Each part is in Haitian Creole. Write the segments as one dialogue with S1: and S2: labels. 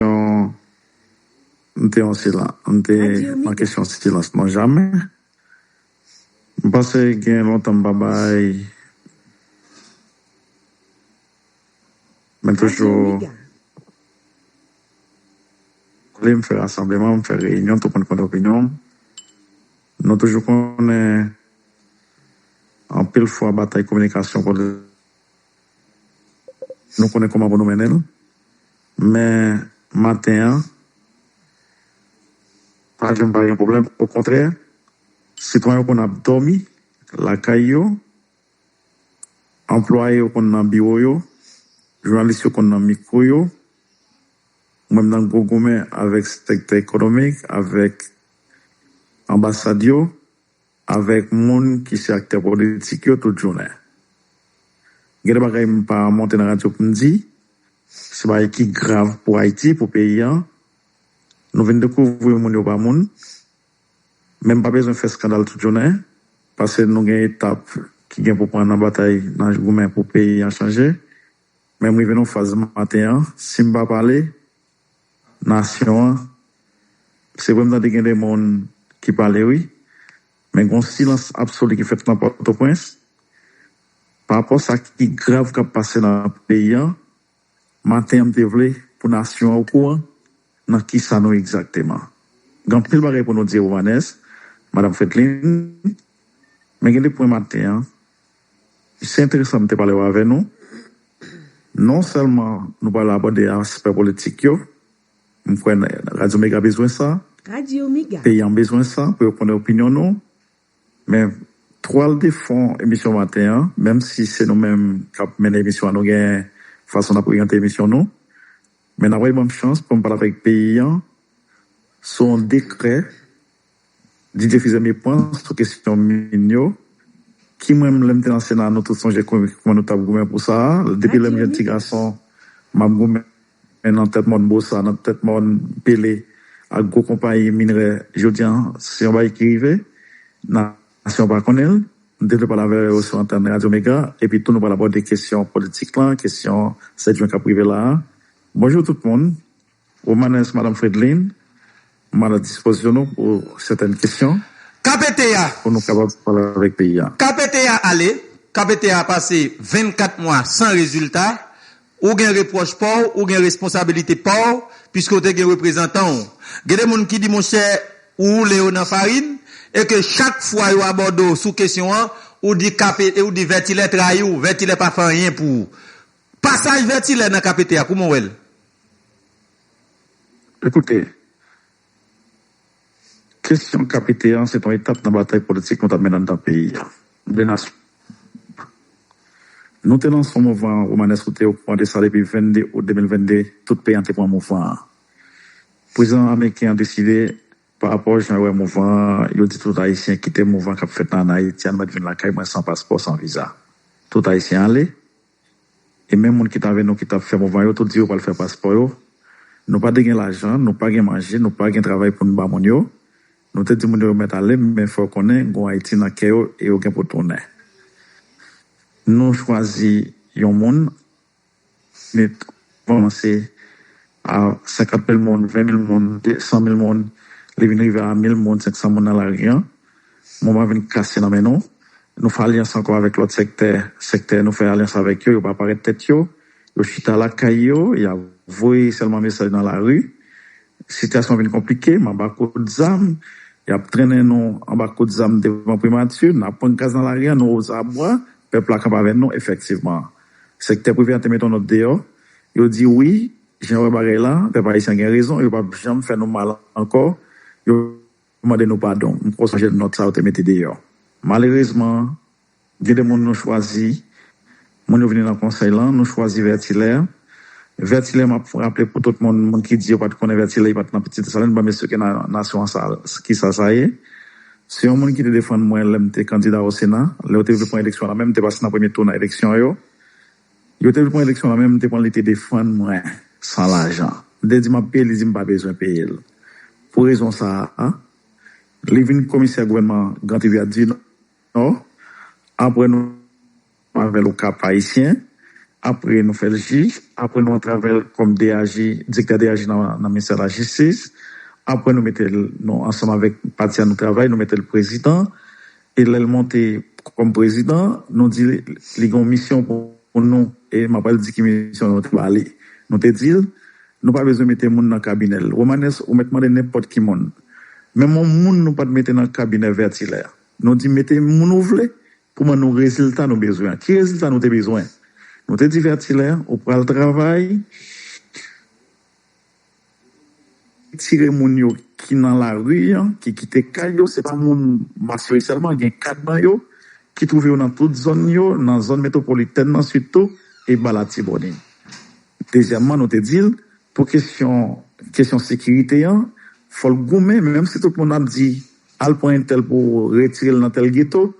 S1: M te yon silans, m te nan kesyon silans non jamè. M panse gen lontan m pa bay men toujou koulé m fè rasanbleman, m fè reyinyon tout moun konn opinyon m. Nou toujou konnen anpil fwa batay kominikasyon. Nou konnen kòman pou nou mennen l. Men, maten an, pa janm pa gen pwoblèm. Okontrè, sitwayen yo konn ap dòmi lakay yo, anplwaye yo konn nan biwo yo, jounalis yo konn nan mikwo yo, ou menm nan gwo goumen avèk sektè ekonomik, avèk anbasad yo. avèk moun ki se aktè politik yo tout jounen. Gen de bagay m pa monte nan radyo pou m di, se bagay ki grav pou Ayiti, pou peyi an. Nou vin dekouvri moun yo pa moun. Men m pa bezwen fè skandal tout jounen, pase nou gen etap ki gen pou pran nan batay, nan goumen pou peyi an chanje. Men m rive nan yon faz maten an, si m pa pale, nasyon an se vre m tande gen de moun ki pale wi men gon silans absoli ki fèt nan pòtoprens pa rapò sa ki grav kap pase nan peyi an maten an m te vle pou nasyon an okouran nan kisa nou egzakteman gen anpil bagay pou nou di Romanès madam Fredlin men gen de pwen maten an Se enteresan m te pale yo avè nou. Non sèlman nou pral abòde aspè politik yo, m kwè Radyo Mega bezwen sa, peyi
S2: an bezwen sa
S1: pou yo konnen opinyon nou. Men twal de fon emisyon maten an, menm si se nou menm k ap mennen emisyon an nou gen fason n ap oryante emisyon nou. Men n ap bay ban m chans pou m pale avèk peyi an sou yon dekrè DJ Fizo me pwan sou kesyon mun yo ki mwen menm lèm te nan sena nou tout sonje kouman nou tap goumen pou sa depi lèm jèn ti gason map goumen nan tèt mòn bosa nan tèt mòn pele ak gwo konpayi minrè jodi an se yon bagay ki rive nasyon pa konnenl m te vle pale avè yo sou antèn radyo mega epi tou nou pral abòde kesyon politik lan kesyon 7 jwen kap rive la bonjou tout moun. Romanes Madam Fredlin, m a la dispozisyon nou pou sètèn kesyon pou
S3: nou kapab
S1: pale avèk peyi a. KPT a ale,
S3: KPT a pase 24 mwa san rezilta, ou gen repwòch pa w, ou gen responsabilite pa w, piske w te gen reprezantan w. Gen de moun ki di monchè ou woule yo nan farin, e ke chak fwa yo abòde w sou kesyon an, ou di vètilè trayi w, vètilè pa fè anyen pou ou. Pasaj Vètilè nan KPT a, kouman
S1: w wè l? Ekoute, kesyon KPT an se t on etap nan batay politik nou t ap mennen anndan peyi a. Nou de nasyon. Nou te lanse on mouvman Romanes ou te okouran de sa depi 22 out 2022 tout peyi an te pran mouvman an. Prezidan ameriken an deside pa rapò jan yo wè mouvman an yo di tout ayisyen kite mouvman k ap fèt nan Anayiti an nou mèt vin lakay mwen san paspò san viza. Tout ayisyen ale. E menm moun ki t avè nou ki t ap fè mouvman yo tout di yo pral fè paspò yo. Nou pa te gen lajan, nou pa gen manje, nou pa gen travay pou n ba moun yo. Nou te di moun yo yo mèt ale men fò yo konnen gen yon Ayiti nan kè yo e yo gen pou tounen. Nou chwazi yon moun, Smith kòmanse a 50 mil moun, 20 mil moun, 100 mil moun, li vin rive a 1000 moun, 500 moun nan lari an, moman an vin kase nan men nou. Nou fè alyans ankò avèk lòt sèktè, sèktè nou fè alyans avèk yo, yo pa parèt tèt yo, yo chita lakay yo, y ap voye sèlman mesaj nan lari. Sitiyasyon an vin konplike, m anba kout zam, y ap trennen nou anba kout zam devan primati, n ap pran gaz nan lari an, nou ozabwa, pèp la kanpe avè nou efektivman. Sektè prive an te met yon nòt deyò, yo di wi, jan yo wè bagay la, pèp ayisyen gen rezon, yo pap janm fè nou mal ankò, yo mande nou padon. M poko sonje nòt sa yo te mete deyò. Malerezman, gen de moun nou chwazi, moun yo vini nan konsèy lan, nou chwazi Vètilè. Vètilè, m ap raple pou tout moun, moun ki di yo pa t konnen Vètilè, li pa t nan Petite Dessaline, banm esplike nasyon an sa, ki sa sa ye. Se yon moun ki te defann mwen lè m te kandida o Sena, lè yo te vle pran eleksyon la menm, m te pase nan premye tou nan eleksyon yo. Yo te vle pran eleksyon la menm, m te pran li te defann mwen san lajan. M te di m ap peye l, li di m pa bezwen peye l. Pou rezon sa a, li vin komisè gouvènman Gran Trivyadinò apre nou. Nou avè l o Kap Ayisyen, apre nou fè l jij, apre nou antrave l kòm DAJ, Direktè DAJ nan Ministè Lajistis, apre nou mete l, nou ansanm avèk pati a nou travay, nou mete l Prezidan, e lè l monte kòm Prezidan, nou di li gen yon misyon pou nou, e m apral di ki misyon nou te ba li. Nou te di l, nou pa bezwen mete moun nan kabinè l. Romanes, ou mèt mande nenpòt ki moun. Menm yon moun nou pa t mete nan kabinè Vertilaire. Nou di mete moun ou vle, Pou ban nou rezilta nou bezwen an. Ki rezilta nou te bezwen? Nou te di Vètilè, ou pral travay, retire moun yo ki nan lari an, ki kite kay yo, se pa moun Masisi sèlman, gen 4 nan yo ki twouve yo nan tout zòn yo, nan zòn metwopolitèn nan sitou, e ba Latibonit. Dezyèmman, nou te di l, pou kesyon, kesyon sekirite an, fò l goumen, menm si tout moun ap di. Al pran entèl pou retirel nan tèl geto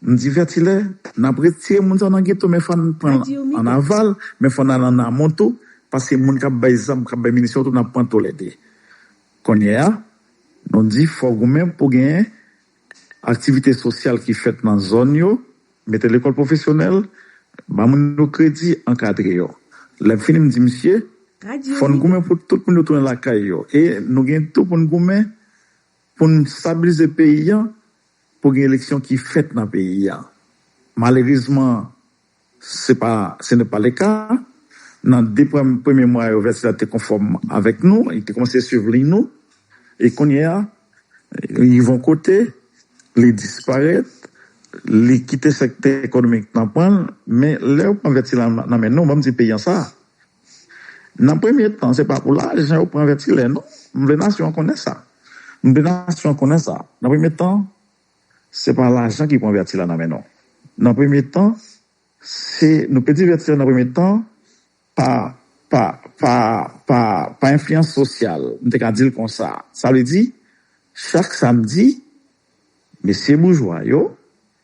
S1: m divètilè nap retire moun sa nan geto men fòn pranl an aval men fòn al an amon tou paske moun kap bay zam kap bay minisyon tou nap pran tolède konnye a nou di fò goumen pou gen aktivite sosyal ki fèt nan zòn yo mete lekòl pwofesyonèl ba moun yo kredi ankadre yo lèm fini m di misye fòn goumen pou tout moun yo tounen lakay yo e nou gen tou poun goumen Pou n stabilize peyi an, pou gen eleksyon ki fèt nan peyi a. Malerezman, se pa, se ne pa le ka. Nan 2 premye mwa yo, Vèt la te konfòm avèk nou, li te kòmanse swiv liy nou. E kounye a, li rive yon kote, li disparèt, li kite sektè ekonomik nan pran l. Men, lè yo pran Vèt sila nan men nou, banm di peyi an sa, Nan premye tan, se pa pou lajan yo pran vètilè non. M vle nasyon an konnen sa. M vle nasyon an konnen sa. Nan premye tan, se pa lajan ki pran vètilè nan men nou. Nan premye tan, se, nou pèdi vètilè nan premye tan pa, pa, pa, pa, pa enfliyans sosyal, m te ka di l konsa. Sa vle di, chak samdi, mesye boujwa yo,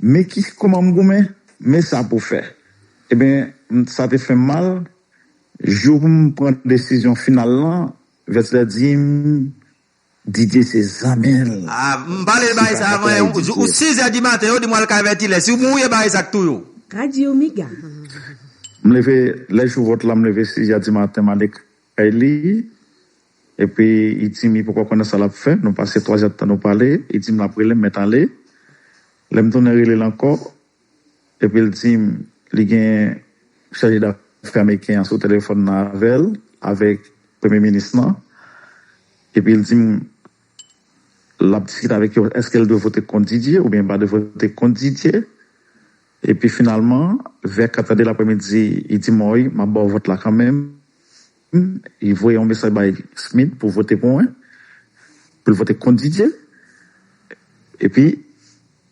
S1: Men ki kòman m goumen, men sa pou fè. Eben, sa te fè m mal, jou pou m pran desizyon final lan, Vèt lè di m, Didye se zanmi l. A, m pale l
S3: bagay sa avan yon jou, ou sizè di maten, yo di m w al kay Vètilè, si w mouri e bagay sa k touye w. Radio Mega.
S2: M
S1: leve, lè jou vòt la, m leve sizè di maten, m ale. Kay li epi i di m i poko konnen sa lap fè nou pase 3 jèdtan nou pale i di m lap rele m mèt ale lè m tounen rele l ankò epi l di m li gen chaje dafè ameriken an sou telefòn nan avè l avèk premye minis lan epi l di m lap diskite avèk yo èske l dwe vote kont Didier oubyen l pa dwe vote kont Didier. Epi finalman, vè 4 ade lapremidi, i di Mòy, m ap ba w vòt la kanmenm. I voye yon mesaj bay Smit pou vote pou mwen, pou l vote kont Didye. Epi,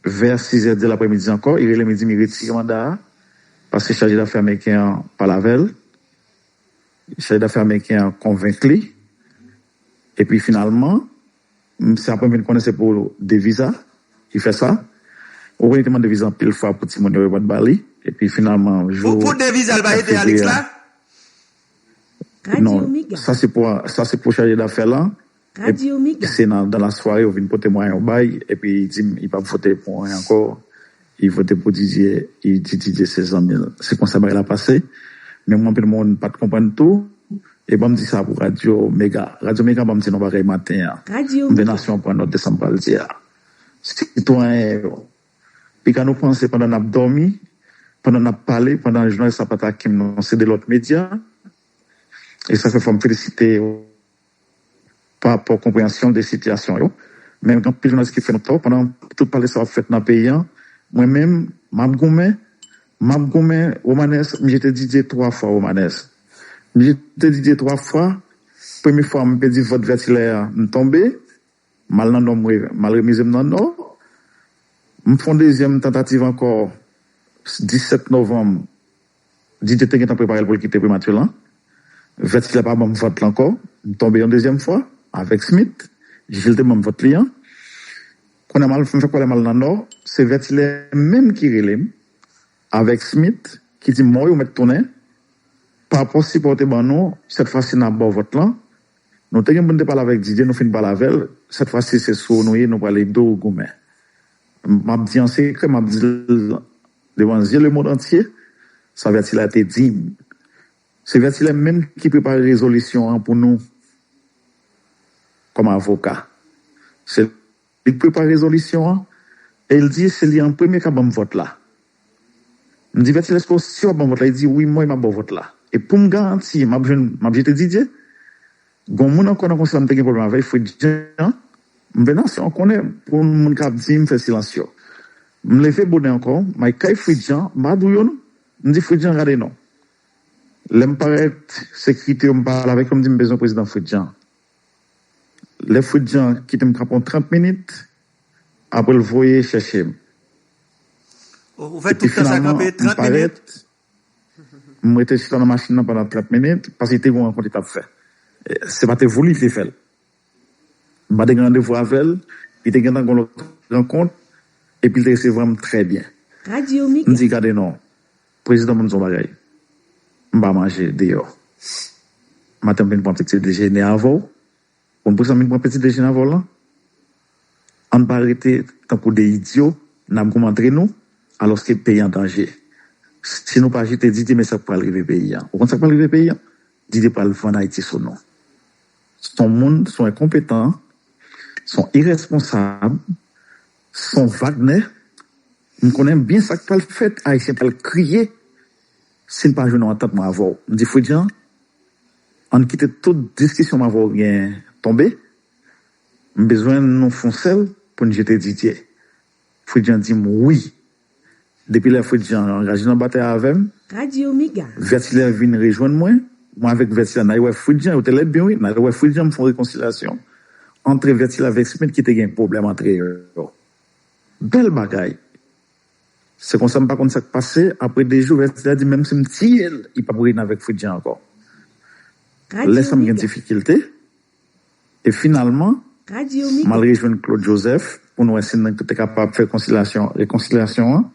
S1: vè 6 zè de lapremidi ankò, i rele m, i di m i retire manda a, paske chaje dafè ameriken an pale avè l. Chaje dafè ameriken an konvenk li. Epi finalman. M se apre m vin konnen se pou deviz a ki fè sa. Rogony te mande viza anpil fwa pou timoun yo yo pat ba li epi finalman jou 4
S3: fevriye a
S1: non sa se pou sa se pou chaje dafè lan
S2: se nan dan lasware yo
S1: vin pote mwen yo bay epi di m yo pap vote pou mwen ankò Ivo te pou Didye e di Didye se zanmi l. Se konsa bagay la pase. Men mwen anpil moun pa t konprann tou. E ban m di sa pou Radyo Mega. Radyo Mega ban m di nou bagay maten an. M vle nasyon an
S2: pran nòt de
S1: sa m pral di a. Sitwayen yo, piga nou panse pandan n ap dòmi, pandan n ap pale, pandan jounalist la pa t ak m nan se de lòt medya. E sa fè fò m felisite. pa rapò konpreyansyon l de sitiyasyon yo. Men gen anpil jounalis ki fè nou tò pandan tout pale sa yo ap fèt nan peyi an. Mwen menm, m ap goumen, m ap goumen Romanes, m jete Didier 3 fwa Romanes. M jete Didier 3 fwa, premye fwa m pèdi vòt Vertilaire, m tonbe, M al nan nò mwe m al remize m nan nò M fon dezyèm tantativ ankò 17 novanm Didier te gentan prepare l pou l kite Primature lan Vèt sila pa ban m vòt l ankò M tonbe yon dezyèm fwa avèk Smith Jil te ban m vòt li an Kounye a m al m fè kwalè m al nan nò Se Vèt Ilè menm ki rele m avèk Smith ki di m Mòy ou mèt tounen Parapò sipò ou te ban nou sèt fwa si n ap ba w vòt lan Nou te gen pou n te pale avèk Didier nou fin pale avè l, sèt fwa si se sou ou nou ye nou pral ede w goumen. M ap di an sekrè, m ap di l devan zye lemond antye sa Vètilè te di m. Se Vètilè menm ki prepare rezolisyon an pou nou kòm avoka. Se. Li k prepare rezolisyon an e l di se li an premye k ap ban m vòt la. M di Vètyèl èske w si w ap ban m vòt la? Li di wi mwen m ap ba w vòt la. E pou m garanti m ap jwenn m ap jete Didye, gon moun ankò nan konsèy la m te gen pwoblèm avè l Fritz Jean, m vle nasyon an konnen pou moun k ap di m fè silans yo. M leve bonè ankò m ale kay Fritz Jean m pa dou yo non m di Fritz Jean gade non. Lè m parèt sekirite yo m pale avèk yo m di m bezwen prezidan Fritz Jean. Lè fwit jan kitem kanpe yon 30 minit aprel voye chèchem
S3: epi finalman m parèt
S1: m rete chita nan machin nan pandan 30 minit paske te gon rankont li tap fè se pa te vouli li te fèl m pa te gen randevou avèl li te gentan gon lòt rankont epi li te resevwam trè byen m
S2: di gade non.
S1: Prezidan moun son bagay m pa manje deyò maten m vin pran piti dejene avèw konn poukisa m vin pran piti dejene avèw lan ann pa rete tankou 2 idyo nap goumen antre nou alòske peyi an danje si nou pa jete Didier men sak pral rive peyi an ou konn sak pral rive peyi an Didier pral vann Ayiti sou nou son moun son enkonpetan son irèsponsab. Son Wagner, m konnen byen sak pral fèt, Ayisyen pral kriye si n pa jwenn yon antant mwen avè w. M di Fridjan, an n kite tout diskisyon m avè w genyen tonbe, m bezwen nou fon sèl pou n jete Didier. Fridjan di m wi. Depi lè Fritz Jean angaje nan batay avè m,
S2: Vètilè vin rejwenn
S1: mwen, mwen avèk Vètilè n ale wè Fritz Jean, yo te lèd byen wi, n ale wè Fritz Jean m fè yon rekonsilyasyon antre Vètilè avèk Smith ki te gen pwoblèm antre yo. Bèl bagay! Se konsa m pa konn sa k pase, apre de jou Vètilè di m menm si m tiye l, li p ap reyini avèk Fritz Jean ankò. Lè sa m gen difikilte. E finalman, m al
S2: rejwenn Claude Joseph
S1: pou n wè si n te kapab fè konsilasyon, rekonsilyasyon an.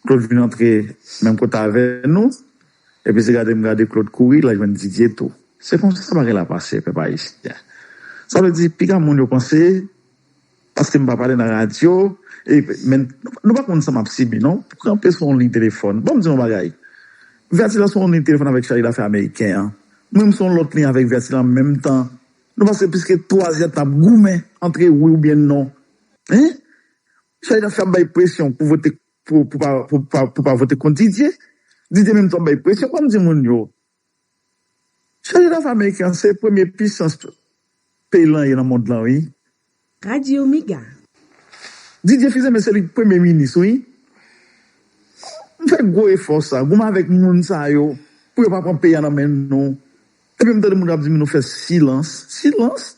S1: Claude vin antre menm kote avè nou. Epi se gade m gade Claude kouri, l al jwenn Didier tou. Se konsa bagay la pase, pèp ayisyen. Sa vle di, piga moun yo panse. Paske m pa pale nan radyo e men nou pa konn sa map sibi non pou kanpe sou yon liy telefòn banm di yon bagay Verti lan sou yon liy telefòn avèk chaj dafè ameriken an mwen m sou yon lòt liy avèk Verti lan menm tan nou pase pliske 3 zè tan ap goumen antre wi oubyen non hein chaj dafè ap bay presyon pou vote pou pa pou pa vote kont Didier Didier menm tou ap bay presyon banm di moun yo Chaje dafè ameriken an se premye pisans peyi lan ye nan mond lan wi. Radio
S2: mega.
S1: Didier Fils-Aimé se li ki premye minis wi. Nou fè gwo efò sa, goumen avèk moun sa yo pou yo pa pran peyi a nan men nou. Epi m tande moun kap di m nou fè silans. Silans?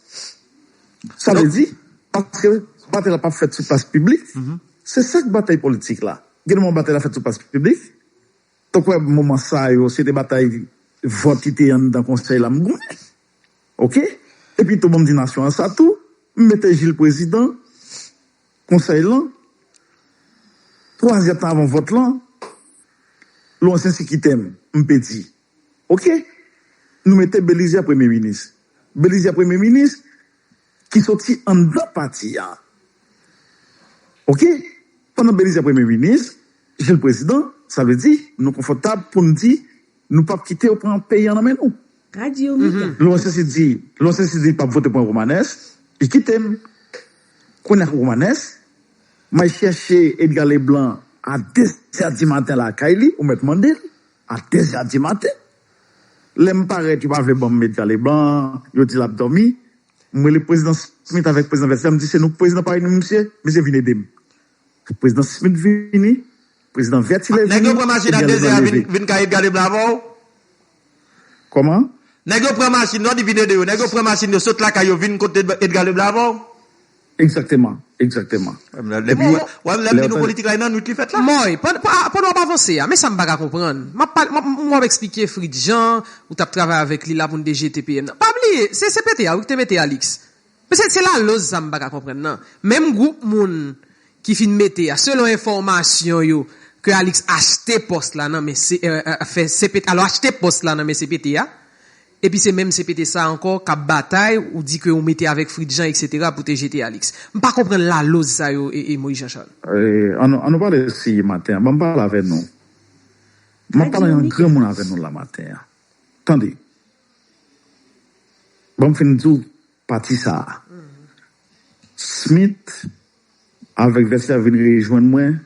S1: Sa vle di paske batay la pap fèt sou plas piblik? Se sak batay politik la. Gen moman batay la fèt sou plas piblik. Tankou wè moman sa yo se te batay vòt ki te anndan konsèy la m goumen ok epi tou bon m di nasyon an sa tou m mete Jil prezidan konsèy lan 3 zè tan avan vòt lan Lwansè si kite m m pedi ok nou mete Belizè premye minis Belizè premye minis ki soti anndan pati a ok pandan Belize premye minis Jil prezidan sa vle di nou konfòtab pou n di nou pap kite yo pran peyi an nan men nou.
S2: Lwen sesi di
S1: lwen sesi di pap vote pou yon Romanès li kite m kounye a ak yon Romanès m al chèche Edga Leblan a dezè di maten lakay li ou mèt mande l. A dèz è di maten, lè m parèt yo pa vle ban m Edgar Leblanc, yo di l ap dòmi. M rele Prezidan Smith avèk Prezidan Verster, m di se nou k Prezidan Paris nou misye, misye vin ede m. Prezidan Smith vini, Prezidan Vertilè vini, Edgar Leblanc leve. Nèg yo pran machin a dèz è a
S3: vin kay Edgar Leblanc avè w?
S1: Kòman? Nèg yo
S3: pran machin, lè w di vin ede yo, nèg yo pran machin yo sot lakay yo vin kote Edgar Leblanc avè w? Egzakteman, egzakteman. Epi, lè yo ta. Mòy, pandan w ap
S4: avanse a, men sa m pa ka konprann. M ap pale, m ap esplike Fritz Jean, ou t ap travay avèk li la pou n te jete PM nan. Pa bliye, se CPT a wi ki te mete Alix. Men se laloz sa m pa ka konprann nan. Menm gwoup moun ki fin mete a, selon enfòmasyon yo, ke Alix achte pòs la nan men CPT a. Epi se menm CPT sa ankò kap batay ou di ke ou mete avèk Fritjean etc pou te jete Alix. M pa konprann laloz sa yo Moïse Jean Charles. An nou pale
S1: si maten an banm pale avè nou map pale an granmoun avè nou la maten an tande banm fin diw pati sa Smith avèk vèsè vin rejwenn mwen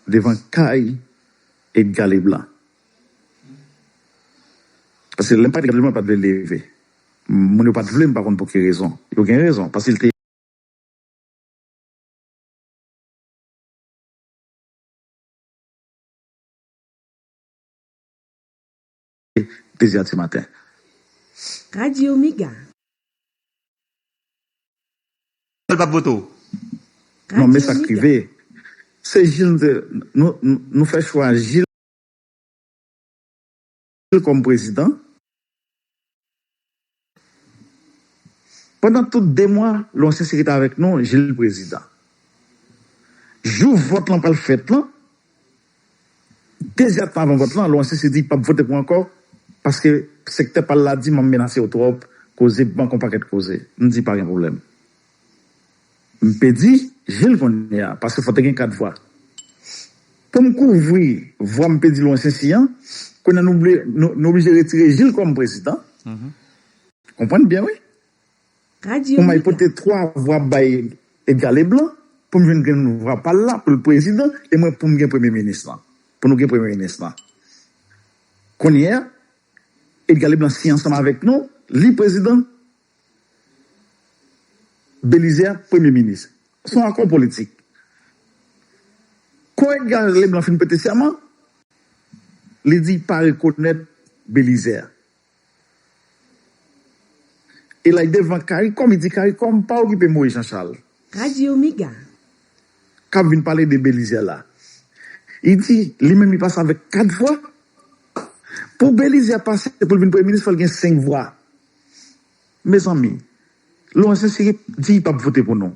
S1: devan kay Edga Leblanc. Paske lè m pa t gade l mwen pa t vle l leve. Moun yo pa t vle m pa konn pou ki rezon. Yo gen rezon paske l te. Dezi a ti maten.
S2: Radio Mega.
S3: L pa p vote w. Non
S1: men sa k rive. Se jil m te. Nou fè chwa jil. l kòm prezidan pandan tout 2 mwa l an senserite avèk nou je l prezidan jou vòt lan pral fèt lan dezè tan avan vòt lan l an senserite di l pap vote pou ankò paske sektè pa l la di m ap menase yo twòp koze bank yon pakèt koze m di pa gen pwoblèm. M pedi jel konnye a paske fò te gen 4 vwa poum kouvri vwa m pedi lwen sensi an konnye nou vle nou oblije retire jil kòm prezidan konprann byen wi ou may pote
S2: 3
S1: vwa
S2: bay
S1: Edga Leblan poum jwenn grenn vwa pal la poul prezidan e mwen poum gen premye minis lan pou nou gen premye minis lan konnye a Edga Leblan siyen ansanm avèk nou li prezidan. Belize ak premye minis se yon akò politik Kon Edgar Leblanc fin prete sèman li di pa rekonèt Belize e lay devan caricom li di caricom pa okipe Moïse Jean Charles Radio Mega.
S2: kap
S1: vin pale de Belize la li di li menm li pase avèk 4 vwa pou Belize pase poul vin premye minis fòl gen 5 vwa. Mezanmi Laurent sincere di pap vote pou nou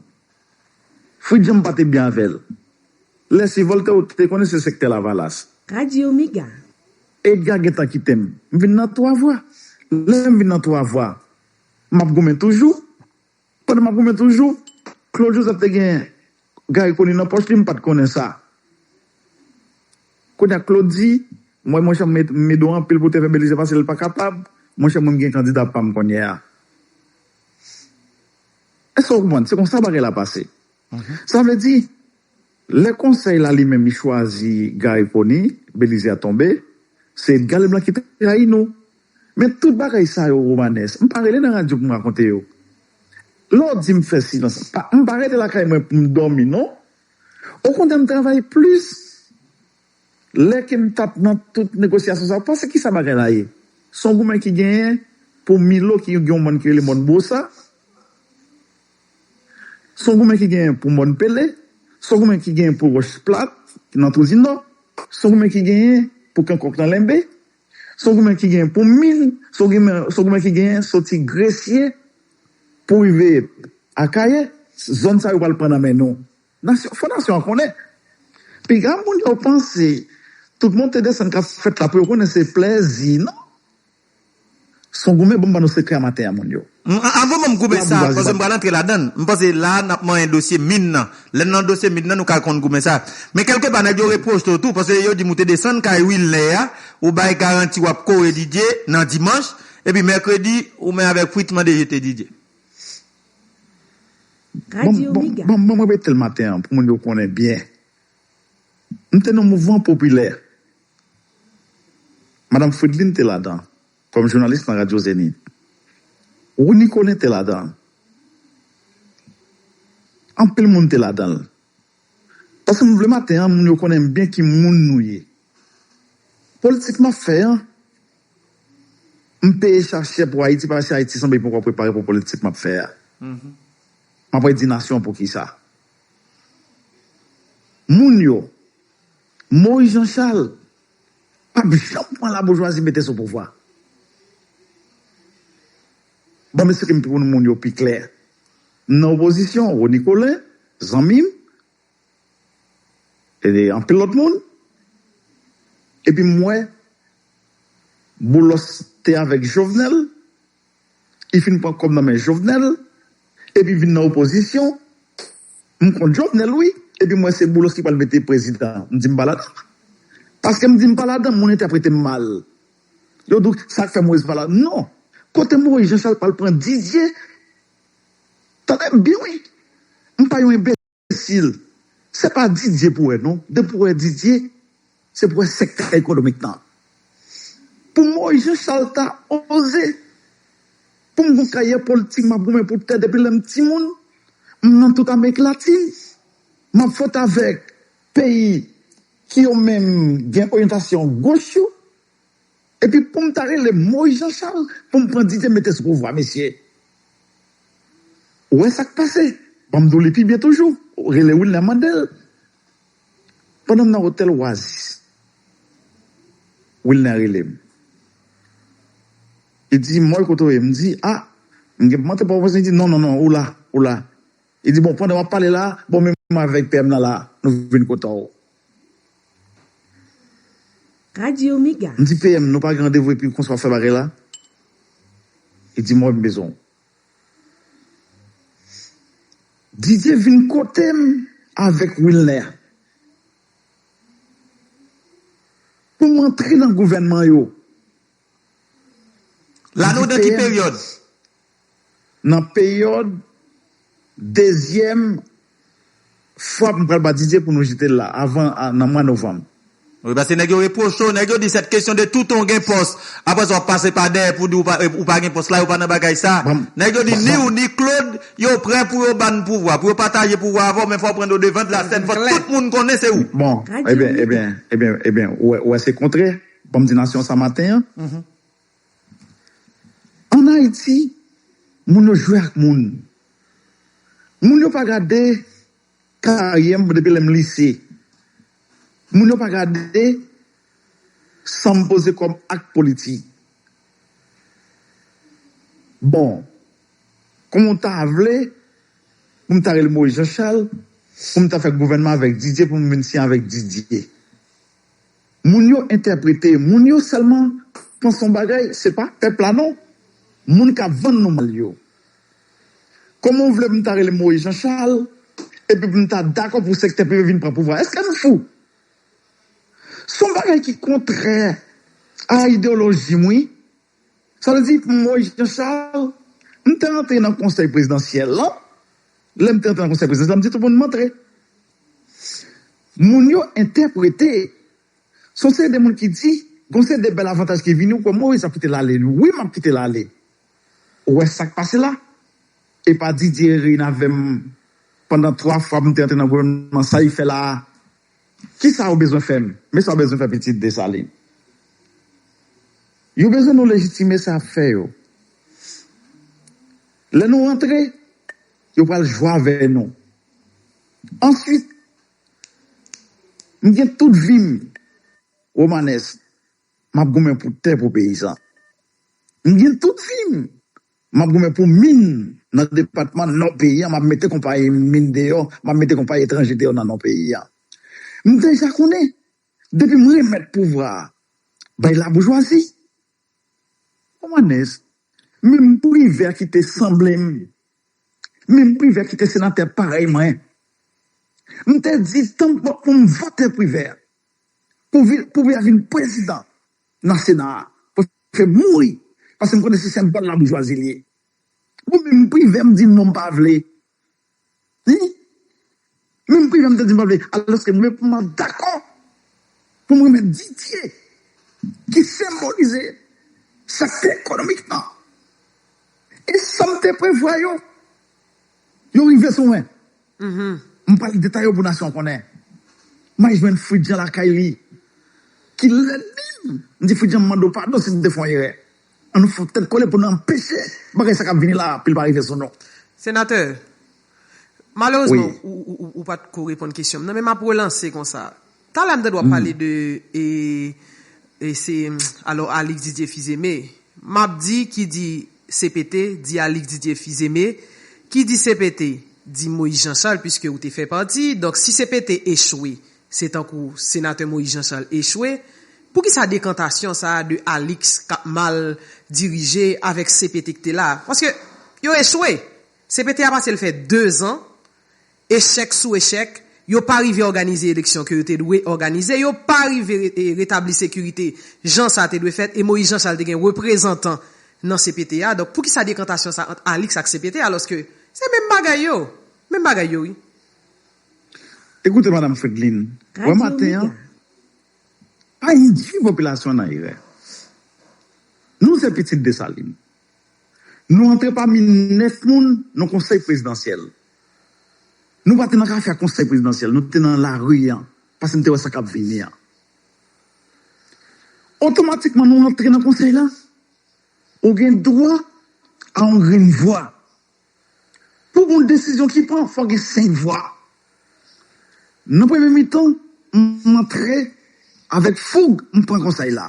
S1: Fritz Jean mpa te byen avèl lè se voltè ou te konnen se sektè lavalas. Radio mega.
S2: Edgar
S1: gentan kitem m vin nan 3 vwa lèm vin nan 3 vwa map goumen toujou Pandan m ap goumen toujou, Claude Joseph te gen Garry Conille nan pòch li, m pa t konnen sa. Kounye a Claude di, m wè monchè m met m midon anpil pou te fè Belize pase l pa kapab, monchè mwen m gen kandida pa m kounye a. Èske w konprann? Se konsa bagay la pase. Sa vle di. Lè konsèy la li menm li chwazi Guy Pony, Belize a tonbe, se Edgar Leblanc ki trayi nou. Men tout bagay sa yo Romanes, m pa rele nan radyo pou m rakonte yo. Lè w di m fè silans, m pa rete lakay mwen pou m dòmi non. Okontrè m travay plis lè ke m t ap nan tout negosyasyon sa yo. Pase kisa bagay la ye? S on goumen ki genyen pou Milo ki gen yon mòn ki rele mòn Bwosa. Son goumen ki genyen pou mòn pele, son goumen ki genyen pou wòch plat ki nan twou di nò, son goumen ki genyen pou kankòk nan lenbe, son goumen ki genyen pou min, son goumen ki genyen soti gresye pou rive akayè, zòn sa yo pral pran nan men nou. Nasyon, fò nasyon an konnen. Piga moun yo panse tout monte desann kap fèt la pou yo konnen se plèzi non. Son goumen bon m ba nou sekrè a maten an moun yo. M avan banm goumen
S3: sa paske m pral antre ladann m panse la nap manyen dosye min nan lèn nan dosye min nan nou ka konn goumen sa men kèlke pa nèg yo repwochte w tou paske yo dim ou te desann kay wilnè a ou bay garanti wap kore didye nan dimanch epi mèkredi ou men avèk fritz mande jete didye.
S2: Bon banm repetel maten
S1: an pou moun yo konnen byen m te nan mouvman popilè Madam Fridlin te ladan, kòm jounalis nan Radyo Zenith. Rony Colin te ladan. Anpil moun te ladan l. Paske m vle maten an moun yo konnen m byen ki moun nou ye. Politik m ap fè an, m peye cha chè pou Ayiti paske Ayiti sanble poko prepare pou politik m ap fè a. M ap redi nasyon an poukisa. Moun yo. Moise Jean Charles pap janm pran la boujwazi mete sou pouvwa. Banm esprim pou nou moun yo pi klè. M nan opozisyon, Rony Colin, zanmi m, e anpil lòt moun, epi m wè Boulos te avèk Jovenel li fin pran kob nan men jovenel epi vin nan opozisyon m kont jovenel wi epi m wè se boulos ki pral mete prezidan m di m pa ladan paske m di m pa ladan moun entèprete m mal yo di w sak fè moise pa la non kote moise jean charles pral pran didier tande m byen wi m pa yon enbe. Imbecil. Se pa Didier pou wè non. Depi pou wè Didier, se pou wè sektè ekonomik nan. Pou Moïse Jean Charles ta oze. Pou m gon karyè politik m ap goumen pou tè depi lè m timoun. M nan tout Amerik Latin. M ap fwente avèk peyi ki yo menm gen oryantasyon goch yo. Epi poum ta rele moy jean chal poum pran didye mete sou pouvwa mesye ou wè sak pase banm diw li pi byen toujou rele wilner mandel pandan m nan otèl oasis wilner relem li di moy kote w ye m di ah m gen pou mante port au prince li di non non non ou la ou la li di bon pandan wap pale la bon men mwen avèk PM nan la nou vin kote w.
S2: Radio mega. M di PM nou pa gen
S1: randevou epi konsa wap fè bagay la? Li di m wè m bezwen w. Didier vin kote m avèk Wilner pou m antre nan gouvènman yo.
S3: La nou nan ki peryòd?
S1: Nan peryòd dezyèm fwa m pral batize pou nou jete l la, avan nan mwa novanm. Wi paske nèg yo
S3: repwoche w, nèg yo di sèt kesyon de toutan w gen pòs, aprè sa w ap pase pa dèyè pou di ou pa gen pòs la, yo pa nan bagay sa. Nèg yo di ni ou ni Klod yo prè pou yo ban n pouvwa, pou yo pataje pouvwa avè w men fò w pran do devan, la sèn fò tout moun konnen se ou. Bon, ebyen, ebyen,
S1: ebyen, ebyen ou wè se kontre. Bon m di nasyon sa maten an, ann Ayiti, moun yo jwe ak moun. Moun yo pa gade karyè m depi lè m lise. Moun yo pa gade san m poze kòm ak politik. Bon, kòman w ta vle pou m ta rele Moyiz Janchal, pou m ta fè gouvènman avèk Didye, pou m vin siyen avèk Didye? Moun yo entèprete moun yo sèlman panc yon bagay se pa pèp la non moun kap vann nou mal yo kòman ou vle pou m ta rele Moïse Jean Charles epi pou m ta dakò pou sektè prive vin pran pouvwa èske nou fou son bagay ki kontrè a ideyolojim wi. Sa vle di pou mwen Jean Charles, m te antre nan konsèy prezidansyèl lan, lè m te antre nan konsèy prezidansyèl lan m di tout moun m antre. Moun yo entèprete, s on seri de moun ki di gon seri de bèl avantaj ki vini ou kwè Moise ap kite l ale, wi m ap kite l ale. Ou wè sa k pase la? E pa Didier Reyne avè m pandan 3 fwa m te antre nan gouvènman sa li fè la a? Kisa ou bezwen fè m? Men sa ou bezwen fè pitit Desalin. Yo bezwen nou lejitime sa y ap fè yo. Lè nou rantre, yo pral jwe avè nou. Answit, m gen tout vi m Romanes, m ap goumen pou tè, pou peyizan. M gen tout vi m! M ap goumen pou min nan depatman Nò peyi a, m ap mete konpayi min deyò, m ap mete konpayi etranje deyò nan Nò peyi a. M deja konnen, depi m remèt pouvwa a bay laboujwazi, Romanes, menm Privè ki te sanble m, menm Privè ki te senatè parèy mwen, m te di tanpon pou m vote Privè pou Privè vin prezidan. nan sena a pou fem mouri paske m konnen se senbòl laboujwazi li ye bon men m privem di non m pa vle li men m privem di m pa vle aloske m reponn dakò pou m remèt Didier ki senbolize sektè ekonomik nan e sam te prevwa yo yo rive sou mwen. M pral detay yo pou nasyon an konnen. May jwenn Fridjan lakay li. Ki lè menm? M di Fridjan m mande w padon si m te fè yon erè. An nou fòk tèt kole pou nou anpeche bagay sa k ap vini la a pou l pa rive sou nou. Senatè,
S4: malerezman ou pa t ko reponn kesyon m nan men m ap relanse konsa. Talè m tande wap pale de se alò Alix Didier Fils-Aimé map di ki di CPT di Alix Didier Fils-Aimé ki di CPT di Moïse Jean Charles puiske ou te fè pati donk si CPT echwe se tankou Senatè Moïse Jean Charles echwe poukisa dekantasyon sa de Alix kap mal dirije avèk CPT ki te la paske yo echwe CPT a pase l fè 2 zan Echèk sou echèk, yo pa rive òganize eleksyon ke yo te dwe òganize, yo pa rive retabli sekirite jan sa te dwe fèt, e Moïse Jean Charles te gen reprezantan nan cpt a, donk poukisa dekantasyon sa ant Alix ak cpt alòske se menm bagay yo, menm bagay yo wi.
S1: Ekoute Madam Fredline, wè maten an, pa indwi popilasyon an nan erè. Nou se pitit Dessalines. Nou antre pami 9 moun nan konsèy prezidansyèl. Nou pa te nan kafe ak konsèy prezidansyèl, nou te nan lari an, pase n te wè sa k ap vini an. Otomatikman nou antre nan konsèy la, ou gen dwa a yon grenn vwa. Pou gon desizyon ki pran, fò gen 5 vwa. Nan premye mitan, m antre avèk foug, m pran konsèy la.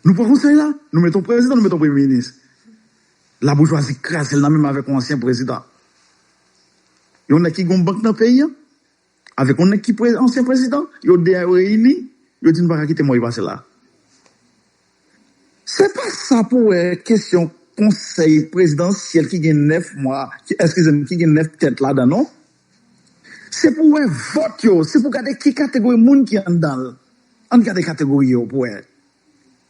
S1: Nou pran konsèy la, nou mete yon prezidan, nou mete yon premye minis. La boujwazi krazel nan menm avek yon ansyen prezidan. Yon nèg ki gen yon bank nan peyi an avek yon nèg ki ansyen prezidan, yo 2 a yo reyini, yo di nou paka kite Moy pase la. Se pa sa pou wè kesyon konsèy prezidansyèl ki gen 9 mwa, eskize m ki gen 9 tèt ladan non. Se pou wè vòt yo, se pou gade ki kategori moun ki anndan l. Ann gade kategori yo pou wè.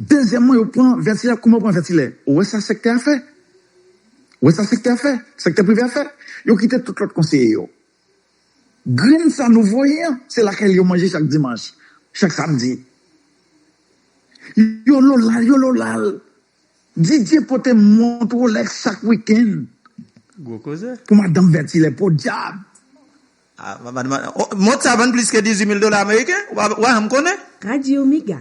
S1: Dezyèmman yo pran vètilè ak kouman yo pran vètilè. Ou wè sa sèktè a fè? Ou wè sa sèktè a fè? Sèktè prive a fè? Yo kite tout lòt konseye yo. Grenn sa nou voye an, se lakay li yo manje chak dimanch, chak samdi. Yo lola l, yo lola l. Didye pote mont Rolex chak wikenn
S3: pou madanm vètilè.
S1: Podyab!
S3: Mont sa vann plis ke 18 mil dola ameriken, ou pa janm konnen. Radio Mega.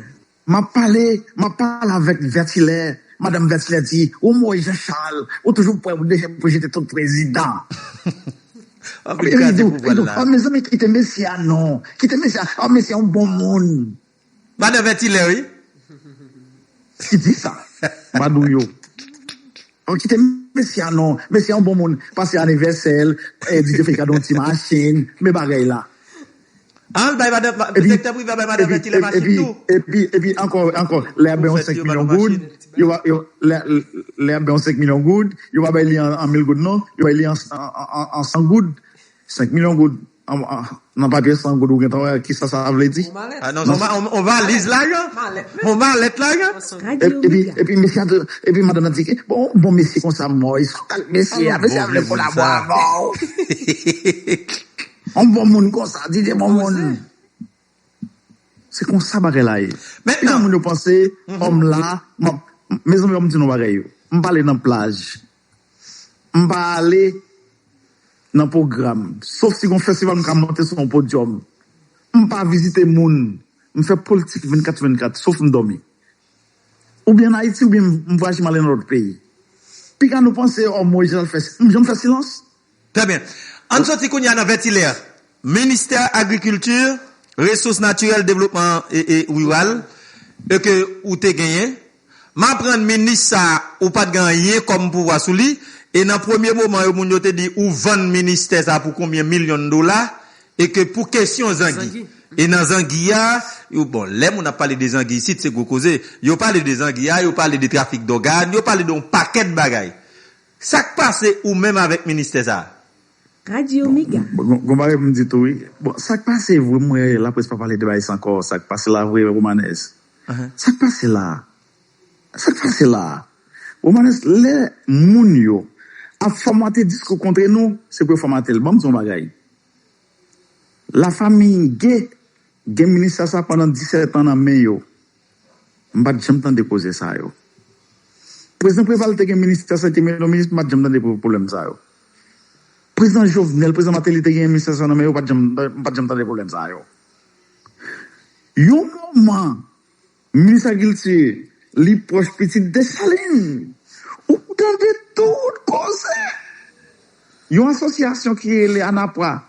S2: Map pale,
S1: map pale avèk Vètilè, Madanm Vètilè di, ou Moyiz Jan Chal, ou toujou pwè pou deje pou jete tout prezidan.
S3: Epi li di, mezanmi kite mesye
S1: a non, kite mesye a, mesye a yon bon moun. Madan vètilè
S3: wi.
S1: Ki di sa madou yo. An kite mesye a non mesye an bon moun pase anivèsèl DJ fèy kado yon ti machin men bagay la. Al
S3: bay madan sektè prive a bay madan vètilè machin tou. Epi ankò
S1: ankò lè yap bay yon 5 milyon goud yo pa lè yap bay yon 5 milyon goud yo pa bay li an 1000 goud non yo bay li an 100 goud. 5 milyon goud nan papye 100 goud ou gentan wè kisa sa vle di. On
S3: valiz lajan, on malèt lajan.
S2: Epi
S1: madanm nan di bon mesye konsa mòy sa pral mesye a, mesye a vle kolabo avè w. On bon moun konsa DJ bon moun. Se konsa bagay la ye. Pifò moun yo panse òm la, mezanmi banm di nou bagay yo, m pale nan plaj. M pa ale nan pwogram, sof si gon festival m ka monte sou yon podyòm. M pa vizite moun, m fè politik 24 sou 24, sof m dòmi. Ou byen an Ayiti ou byen m vwayaje m ale nan lòt peyi. Piga nou panse anmwey Jean-Jacques fè silans. M janm fè silans? Trè byen.
S3: Ann soti kounye a nan Vètilè. Ministè agrikilti, resous natirèl, devlopman riral e ke ou te genyen. M aprann minis sa ou pa t gen anyen kòm pouvwa sou li e nan premye moman yo moun yo te di ou vann ministè sa pou konbyen milyon dola e ke pou kesyon zangi. E nan zangi a, yo bon lè moun ap pale de zangi isit se gwo koze. Yo pale de zangi a, yo pale de trafik dògàn, yo pale de yon pakèt bagay. Sak pase ou menm avek ministè sa? Radio
S2: mega. Bon gon bagay pou m di tou
S1: wi. Bon sak pase vre m wè laprès pa pale de bagay sa ankò sak pase la vre Romanès sak pase la sak pase la Romanès lè moun yo ap fòmate diskou kontre nou se pou yo fòmate l banm di w yon bagay la famiy Gee gen ministè sa pandan 17 an nan men yo. M pat janm tande koze sa yo. Prezidan Preval te gen ministè sante men yo minis m pat janm tande pou pwoblèm sa yo. Prezidan Jovenel, Prezidan Martelly te gen ministè sa nan men yo pat janm m pat janm tande pwoblèm sa yo. Yon moman minis agilti li pwòch pitit Desalin ou tande tout koze. Yon asosyasyon ki rele Anapra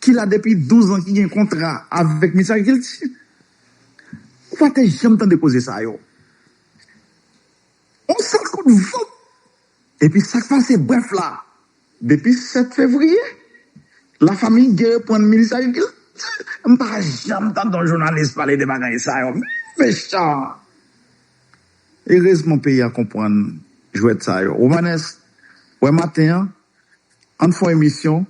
S1: ki la depi 12 an ki gen kontra avèk minis agilti Ou pa te janm tande koze sa yo. Yon sèl kout vant epi sa k pase? Brèf la, depi 7 fevriye, la famille Guy reprann minis agrikilti. M pa janm tande yon jounalis pale de bagay sa yo. Mechan! Erezman peyi a konprann jwèt sa yo. Romanes, wè maten an, Ann fon emisyon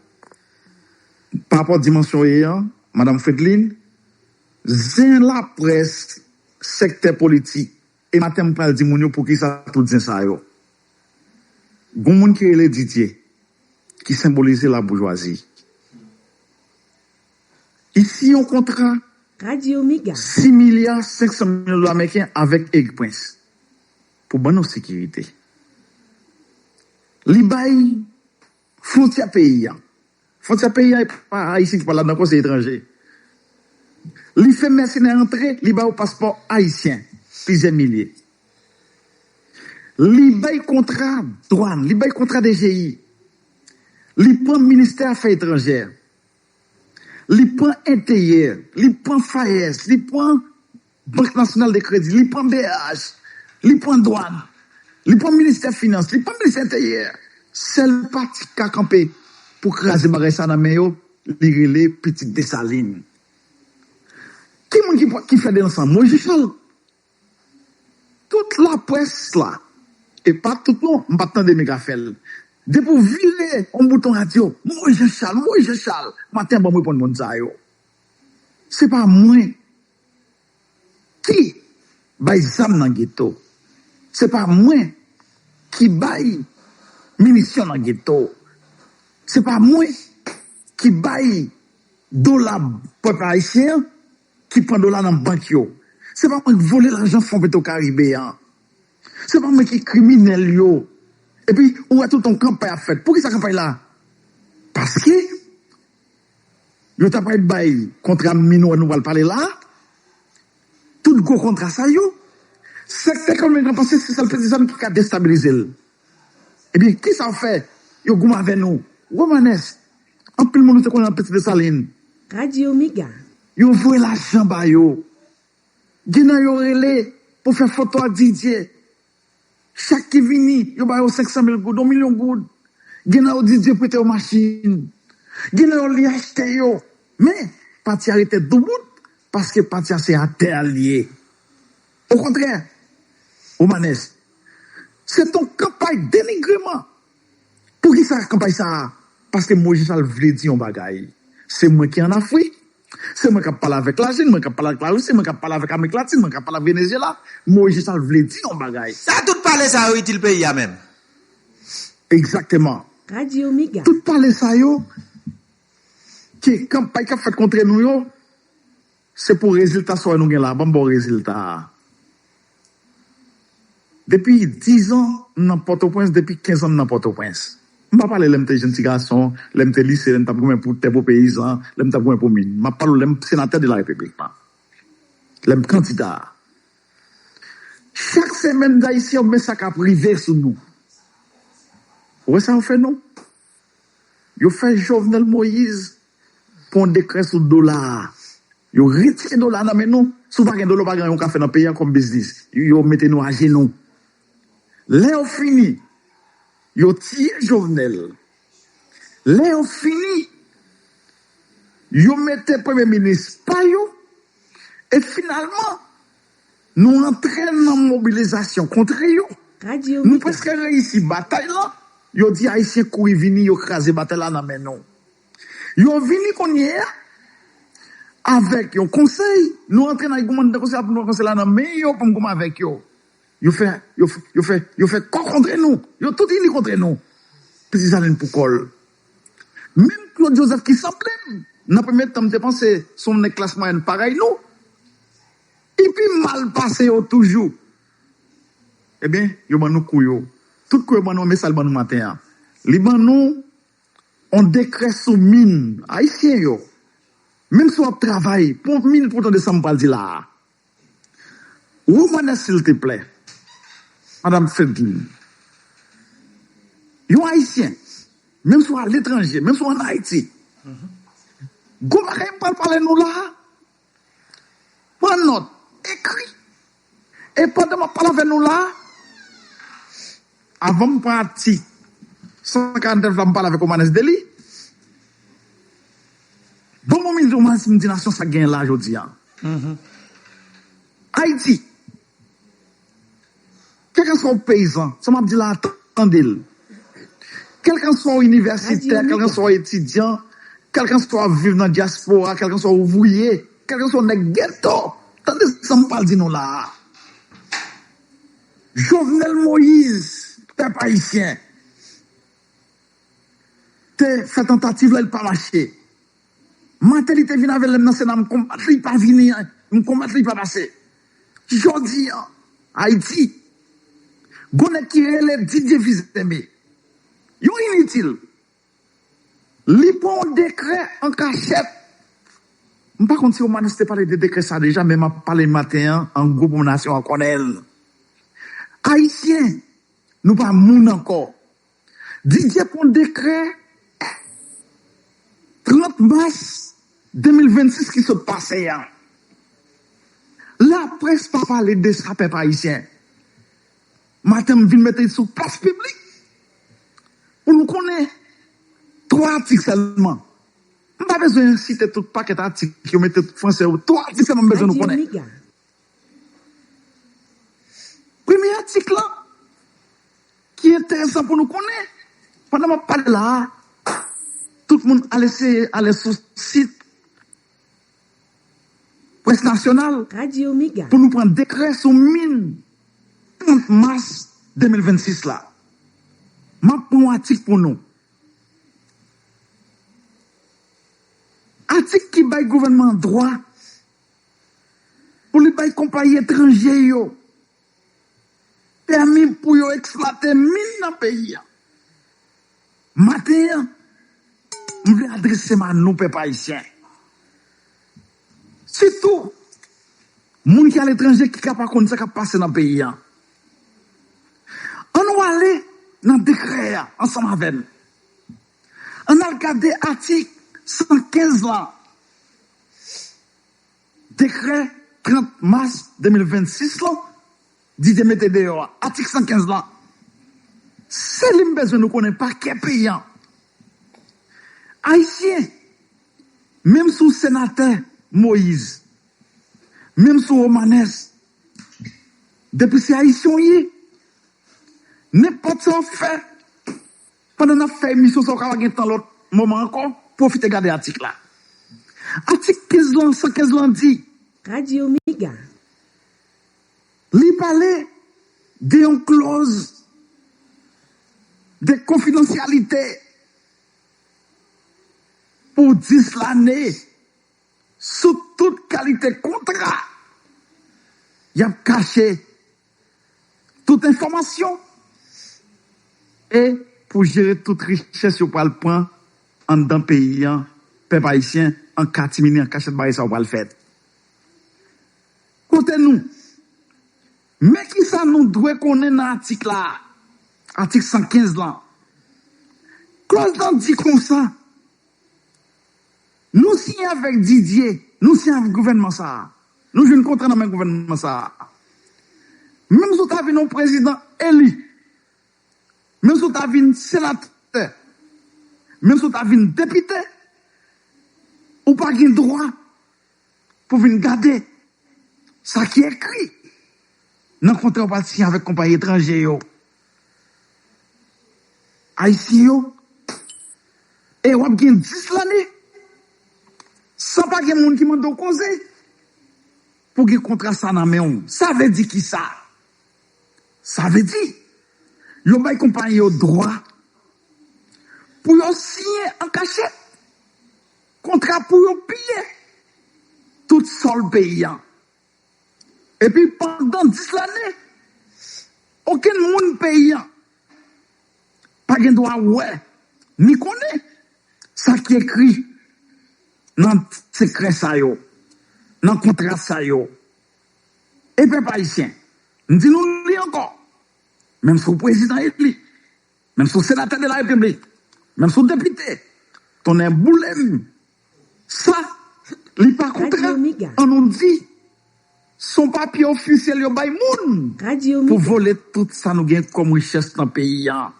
S1: pa rapò dimansyon ye an madam Fredline zen laprès sèktè politik e maten m pral di moun yo poukisa tout zen sa yo gon moun ki rele Didier ki senbolize laboujwazi isi yon kontra 6
S2: milya 500
S1: milyon dola mèken avèk Erik Prince. Pou ban nou sekirite. Li bay fwontyè peyi a. Fwontyè peyi a e pa Ayisyen ki pa ladan ankò, se etranje. Li fè mèsenè antre, li ba yo paspò ayisyen, plizyè milye. Li bay kontra dwàn, li bay kontra DGI. Li pran ministè afè etranjè. Li pran enteryè, li pran FAES, li pran Bank Nasyonal de Kredi, li pran BH, li pran Dwan, li pran Ministè Finans, li pran Ministè Enteryè. Sèl pati ki ka kanpe pou kraze bagay sa nan men yo, li rele pitit Desalin. Ki moun ki fè de lansan? Moyiz Jachal. Tout laprès la, e pa tout non, m pa t tande men k ap fè l. Depi ou vire yon bouton radyo, Moyiz Jachal, Moyiz Jachal, maten an ban m reponn moun sa yo. Se pa mwen. Ki bay zam nan geto? Se pa mwen ki bay minisyon nan geto. Se pa mwen ki bay dola pèp ayisyen an, ki pran dola nan bank yo. Se pa mwen ki vole lajan Fon Petro Karibe an. Se pa mwen ki kriminèl yo. Epi, ou wè tout yon kanpay ap fèt. Poukisa kanpay la? Paske. Yo ta pral bay kontra minò nou pral pale la a, tout gwo kontra sa yo, sèkte ekonomik lan panse se sèl peze zam ki ka destabilize l. Ebyen, ki sa yo fè? Yo goumen avè nou. Romanes, Anpil moun nou te konnen nan Piti Desalin. Radio Mega.
S2: Yo voye
S1: lajan ba yo. Gen nan yo rele pou fè foto ak Didier. Chak ki vini, yo ba yo 500 mil goud, yon milyon goud. Gen nan yo di Dye prete yo machin. Gen nan yo li achte yo. Men, pati a rete doubout paske pati a se atè a li ye. Okontrè, Romanes, se ton kanpay denigreman. Poukisa kanpay sa a? Paske Moyiz Chal vle di yon bagay, Se mwen ki ann Afrik, se mwen k ap pale avèk Lajin, mwen k ap pale avèk Larisi, mwen k ap pale avèk Amerik Latin, mwen k ap pale avèk Venezyela. Moyiz Chal vle di yon bagay. Sa tout pale sa yo
S3: itil peyi a menm? Egzakteman.
S1: Radio Mega. Tout
S2: pale sa yo
S1: ke kanpay k ap fèt kontre nou yo. Se pou rezilta sa nou gen la a. Ban m ba w rezilta a. Depi dizan m nan Pòtoprens, depi kenzan m nan Pòtoprens. M pa pale lè m te jenn ti gason, lè m te lise, lè m t ap goumen pou tè, pou peyizan, lè m t ap goumen pou min. M ap pale w lè m senatè de la Repiblik lan, lè m kandida. Chak semèn Ayisyen yo men sa k ap rive sou nou. Ou wè sa yo fè nou? Yo fè Jovenel Moise pran yon dekrè sou dola a. Yo retire dola a nan men nou. Si w pa gen dola, w pa gen anyen w ka fè nan peyi a kòm biznis. Yo mete nou ajenou. Lè yo fini, yo tiye Jovenel. Lè yo fini, yo mete premye minis pa yo. E finalman. Nou antre nan mobilizasyon kontre yo. Nou prèske
S2: reyisi
S1: batay lan. Yo di Ayisyen kouri vini, yo kraze batay la nan men nou. Yo vini kounye a avèk yon konsèy. Nou antre nan goumen nan konsèy la pou nou pran konsèy la nan men yo pou nou goumen avèk yo. Yo fè kò kontre nou. Yo tout ini kontre nou. Piti Salen pou kò l. Menm Claude Joseph ki sanble m nan premye tan m te panse se yon nèg klas mwayèn parèy nou, li pi mal pase yo toujou. Ebyen, yo ban nou kou yo. Tout kou yo ban nou an men sa l ban nou maten an. Li ban nou yon dekrè sou min Ayisyen yo. Menm si w ap travay pou yon min pou w tande sa m pral di la a. Wou konnen silteplè madam Fedline, yon ayisyen menm si w aletranje, menm si w an Ayiti, gwo bagay m pral pale nou la a, pran nòt, ekri, e pandan m ap pale avè nou la a, Avan m pran atik 149 la, m pale avèk Omanes de li. Bon mwen mizè Omanes m di nasyon sa genyen la jodi a. Ayiti, kèlkanswa w peyizan, sa m ap di la a tande l, kèlkanswa w inivèsitè, kèlkanswa w etidyan, kèlkanswa w ap viv nan dyaspora, kèlkanswa w ouvriye, kèlkanswa w nèg geto, tande sa m pral di nou la a. Jovenel Moïse pèp ayisyen te fè tantativ la li pa mache maten li te vin avèl lèm nan sena m konbat li pa vini m konbat li pa pase jodi an ayiti gon nèg ki rele Didier Fils-Aimé yon initil Li pran yon dekrè an kachèt. M pa konn si Romanus te pale de dekrè sa deja men m ap pale maten an an gwo pou m nasyon an konnen l. Ayisyen, nou pa moun ankò. Didier pran yon dekrè 30 mas 2026 ki sot pase a. Laprès pa pale de sa pèp ayisyen. Maten m vin mete l sou plas piblik. Pou nou konnen 3 atik sèlman. M pa bezwen site tout pakèt atik yo mete pou fransè yo. 3 atik sèlman m bezwen nou konnen. Premye atik lan ki enteresan pou nou konnen, pandan m ap pale la a, tout moun al eseye ale sou sit. Près nasyonal pou
S2: nou pran dekrè
S1: sou min 30 mas 2026 la. M ap pran yon atik pou nou. Atik ki bay gouvènman an dwa pou li bay konpayi etranje yo. Pèmi pou yo eksplwate min nan peyi a. Maten an, m vle adrese m a nou pèp ayisyen, sitou moun ki aletranje ki ka pa konn sa k ap pase nan peyi a. Annou ale nan dekrè a ansanm avè m. Ann al gade atik 115 lan. Dekrè 30 mas 2026 lan di te mete deyò a, atik 115 lan, se li m bezwen nou konnen pakè peyi an. Ayisyen, menm sou senatè Moise, menm sou Romanes, depi se Ayisyen w ye, nenpòt sa w fè, Pandan n ap fè emisyon sa a, ou ka pa gen tan lòt moman ankò, pwofite gade atik la. Atik 15 lan, 115 lan di. Radyo Mega. Li pale de yon klòz de konfidansyalite pou 10 lane sou tout kalite kontra y ap kache tout enfòmasyon e pou jere tout richès yo pral pran anndan peyi an pèp ayisyen an katimini an kachèt bagay sa yo pral fèt kote nou men kisa nou dwe konnen nan atik la atik 115 lan klòz lan di konsa. Nou siyen avèk Didier, nou siyen avèk gouvènman sa a. Nou jwenn kontra nan men gouvènman sa a. Menm si w ta vin yon prezidan eli, menm si w ta vin senatè, menm si w ta vin depite, ou pa gen dwa pou w vin gade sa ki ekri nan kontra w pral siyen avèk konpayi etranje yo. Ayisyen yo e wap gen 10 lane san pa gen moun ki mande w koze pou gen kontra sa nan men w sa vle di kisa sa vle di yo bay konpayi yo dwa pou yo siyen an kachèt kontra pou yo piye tout sòl peyi an. Epi pandan 10 lane, okenn moun peyi an pa gen dwa wè ni konnen sa ki ekri nan sekrè sa yo, nan kontra sa yo. E pèp ayisyen, m di nou li ankò, menm si w prezidan eli, menm si w senatè de la repiblik, menm si w depite, tonnè boule m Sa Li pa kontra an nou di son papye ofisyèl yo bay moun pou vole tout sa nou gen kòm richès nan peyi an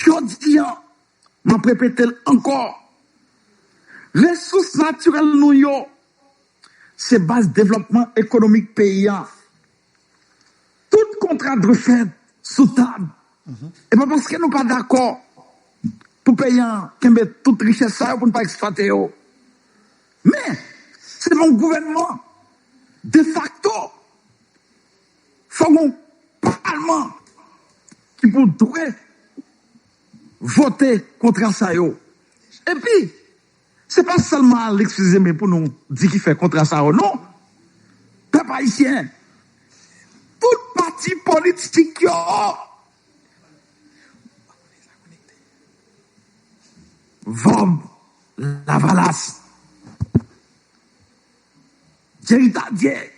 S1: jodi an map repetel ankò resous natirèl nou yo se baz devlòpman ekonomik peyi an. Tout kontra dwe fèt sou tab. E pa paske nou pa dakò pou peyi an kenbe tout richès sa yo pou n pa eksplwate yo. Men, se pou gouvènman defakto, fò gen yon palman ki pou dwe vote kontra sa yo. Epi. Se pa sèlman Alex Fils-Aimé pou nou di ki fè kontra sa yo non, pèp ayisyen, tout pati politik yo. Vanb lavalas. Jerry Tardieu.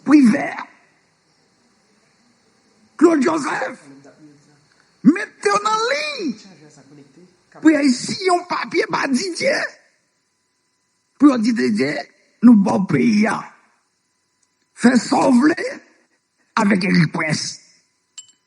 S1: Privert. Claude Joseph mete w nan liy pou y al siyen yon papye ba Didier pou yo di Didier nou ba w peyi a fè sa w vle avèk Erik Prince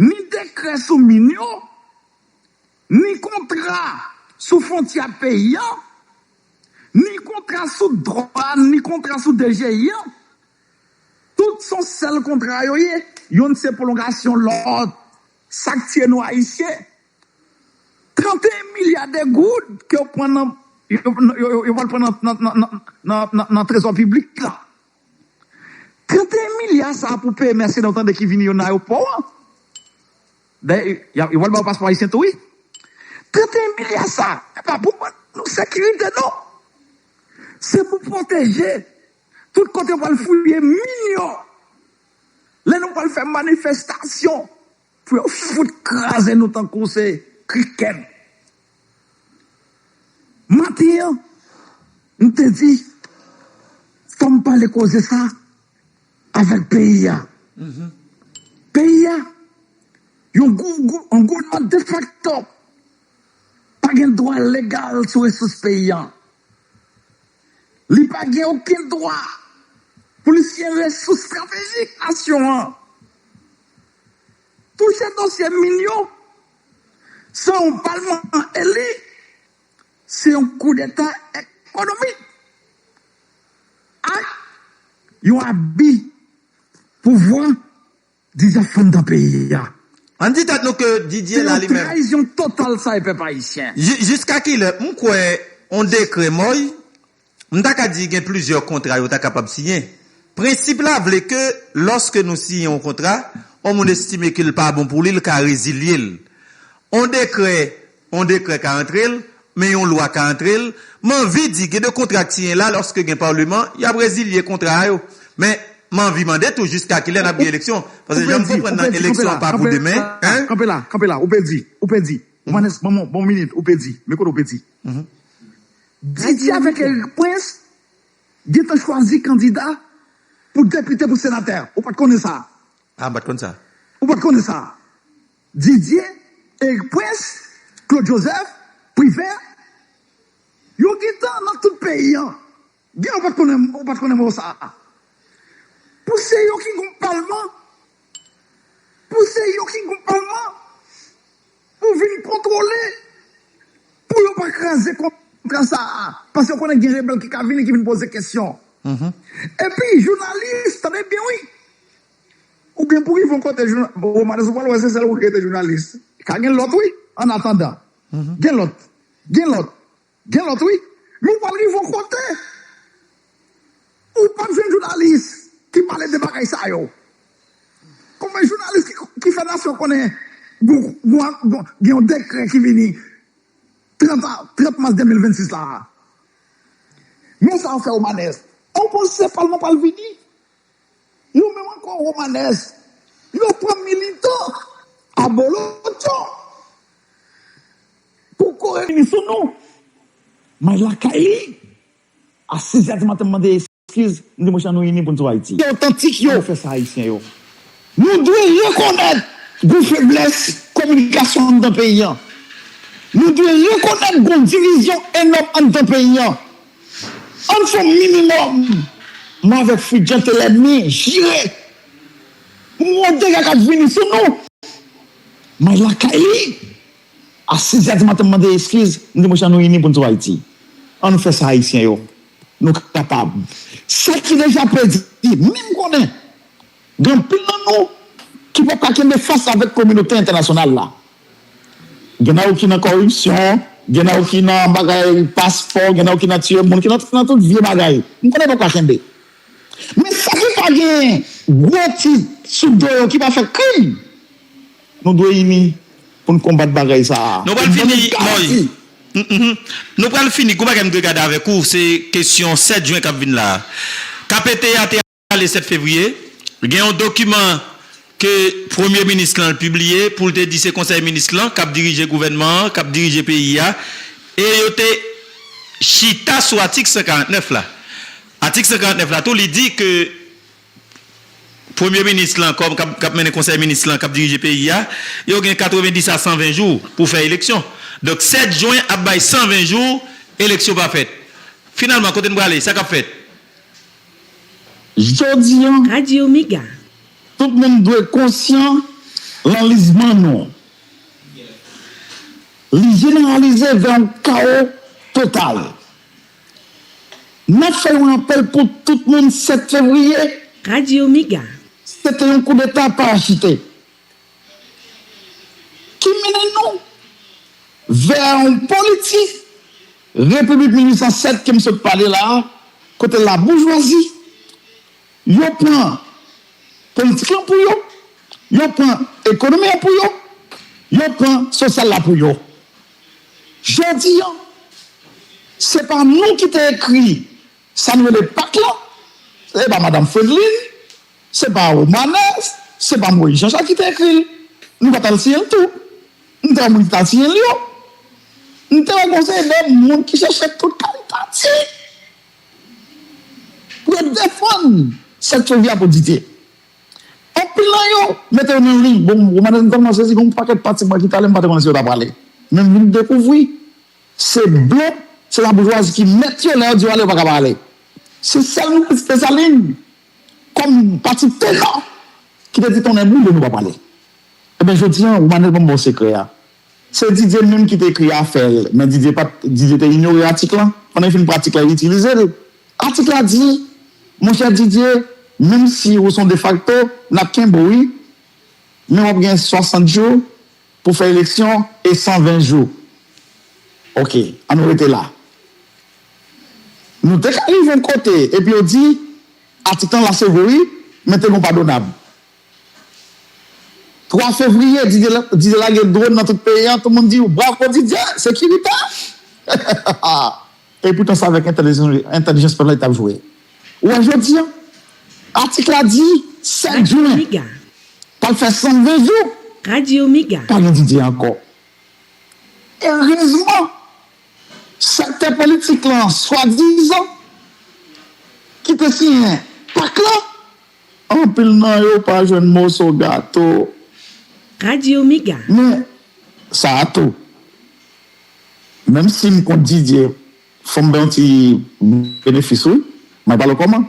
S1: Ni dekrè sou min yo, ni kontra sou fontyè ak peyi an, ni kontra sou dwàn, ni kontra sou DGI an, tout son sèl kontra yo ye, yonn se pwolongasyon lòt. Sa k tiye nou Ayisyen, 31 milya de goud ke yo pran nan, yo pral pran nan trezò piblik la. 31 milya sa pou peye mèsenè ou tande ki vini yo nan ayopò an. Dayè yo pral ba ou paspò ayisyen tou wi. 31 milya sa se pa pou ban nou sekirite non. Se pou pwoteje tout kote yo pral fouye min yo. Lè nou pral fè manifestasyon. Pou yo fout kraze nou tankou se krikèt. Maten an, m te di fò m pale koze sa avèk peyi a. Peyi a, yon gouvènman defakto pa gen dwa legal sou resous peyi a. Li pa gen okenn dwa pou li siyen resous estratejik nasyon an. Touche dosye min yo san yon palman eli se yon koudeta ekonomik ak yon abi pouvwa dizanfom dan peyi a. Ann di tèt
S3: nou ke Didier la li menm. Se yon trayizyon total
S1: sa e pèp ayisyen. Jiska kilè? M
S3: kwè yon dekrè moy M ta ka di gen plizyè kontra yo ta kapab siyen. Prensip la vle ke lòske nou siyen on kontra, on moun estime ke l pa bon pou li, l ka rezilye l. On dekrè, on dekrè ka antre l, men yon lwa ka antre l. M anvi di gen de kontra k siyen la, lòske gen Paleman, y ap rezilye kontra a yo. Men, m anvi mande tou jiska kilè n ap gen eleksyon? Paske jan m konprann nan eleksyon an pa pou demen, hein? Kanpe la, kanpe la, ou pedi,
S1: ou pedi. Johannes, ban m on minit, ou pedi. Men kote ou pedi? Didier avèk Eric Prince gentan chwazi kandida pou depite pou senatè. Ou pat konnen sa? Ah m pat konn sa.
S3: Ou pat konnen sa?
S1: Didier, Eric Prince, Claude Joseph, Privert yo gentan nan tout peyi an. Gen ou pat konnen ou pat konnen mo sa? Pou se yo ki gon palman? Pou se yo ki gon palman? Pou vin kontwole, pou yo pa kraze kontra sa a, paske yo konnen gen rebèl ki ka vini ki vin poze kesyon. Epi jounalis, tande byen wi, ou gen pou rive yon kote, Romanes ou pral wè se sèl ou ki rete jounalis, ka gen lòt wi, annatandan, gen lòt, gen lòt. Gen lot wi, men ou pral rive on kote ou pap jwenn jounalis ki pale de bagay sa yo. Konbyen jounalis ki fè nasyon konnen gen yon dekrè ki vini 30 mas 2026 la a? Men sa yo fè Omanès, opozisyon palman pral vini Yo menm ankò Romanès. Yo pran militan abolotcho pou kore vini sou nou. May lakay li. A 6 zè di maten m mande eskiz, m di mwen chan nou ini pou n sou Ayiti. Ki otantik yo. An nou fè sa Ayisyen yo. Nou dwe rekonèt gon feblès kominikasyon anndan peyi an. Nou dwe rekonèt gon divizyon enòm anndan peyi an. Ann fè yon minimòm m avèk Fritz Jean te lènmi jire pou m wè dega k ap vini sou nou. M al lakay li a sizè di maten m mande eskiz m di monchè an nou ini pou n sove Ayiti an nou fè sa Ayisyen yo nou kapab sa ki deja pèdi menm konnen Gen anpil nan nou ki pap ka kenbe fas avèk kominote entènasyonal la. Gen nan yo ki nan kòripsyon, gen nan yo ki nan bagay paspò, gen nan yo ki nan tiye moun, ki nan tout vye bagay. M konnen yo pap ka kenbe. Men sa ki pa gen gwo tit sou do yo, ki pa fè krim, nou dwe ini pou n konbat bagay sa a. Nou pral fini, Moy.
S3: Nou pral fini. Gon bagay m dwe gade avèk ou, se kesyon 7 jen k ap vin la a. K ap ete a te. Ale 7 fevriye, gen yon dokiman ke premye minis lan pibliye pou l te di se konsèy minis lan k ap dirije gouvènman an, k ap dirije peyi a, e yo te chita sou atik 149 la. Atik 149 la tou li di ke premye minis lan kòm k ap mennen konsèy minis lan k ap dirije peyi a, yo gen 90 a 120 jou pou fè eleksyon. Donk 7 jwen ap bay 120 jou eleksyon pa fèt. Finalman kote n prale? Sa k ap fèt?
S1: Jodi an,
S2: tout moun
S1: dwe konsyan lanlizman nou. Li jeneralize vè yon kawo total. N ap fè yon apèl pou tout moun 7 fevriye,
S2: se te yon
S1: koudeta parachite. Ki mennen nou vè yon politi Repiblik 1807 ke m sot pale la a, kote laboujwazi, yo pran politik lan pou yo, yo pran ekonomi an pou yo, yo pran sosyal la pou yo. Jodi an, se pa nou ki te ekri sa nou rele pak lan, se pa Madam Fredlin, Se pa Romanès, se pa Moyiz Janchak ki te ekri l. M pa t al siyen l tou. M te wè moun ki t al siyen l yo. M te wè gen yon seri de moun ki chèche tout kalitatif pou yo defann sa k sove a pou Didye. Anpil nan yo mete yo nan liy. Bon, Romanès m tèlman sezi gen yon pakèt pati mwen ki t ale m pa te konnen si yo t aprale. Men m vin dekouvri se blan, se laboujwazi ki mèt yo. Lè yo di yo ale yo pa ka pa ale. Se sèl m ki wè se Desalin. Kòm pati tennò ki te di tonnè boule nou pa pale. Ebyen jodi an Romanel banm baw sekrè a. Se Didier menm ki te ekri afè l men Didier pat Didier te inyore atik lan pandan li fin pran atik la li itilize l. Atik la di monchè Didier menm si ou son defakto nap kenbe w wi men wap gen 60 jou Pou fè eleksyon e 120 jou. Ok, an nou rete la. Nou te ka rive yon kote epi yo di atik lan la se vre wi, men te gen yon padonab. 3 fevriye Didier lage dwòn nan tout peyi an, tout moun di bravo Didier, sekirite! E poutan se avèk entèlijans pèp la li t ap jwe. Ou wè jodi an, atik la di 7 jen, p ap fè 120 jou,
S2: pa gen Didier ankò.
S1: Erezman, sektè politik lan swadizan ki te siyen pak la, anpil nan yo pa jwenn moso gato.
S2: Men,
S1: sa a tou, Menm sim kont Didier fom bay yon ti benefis wi may pale koman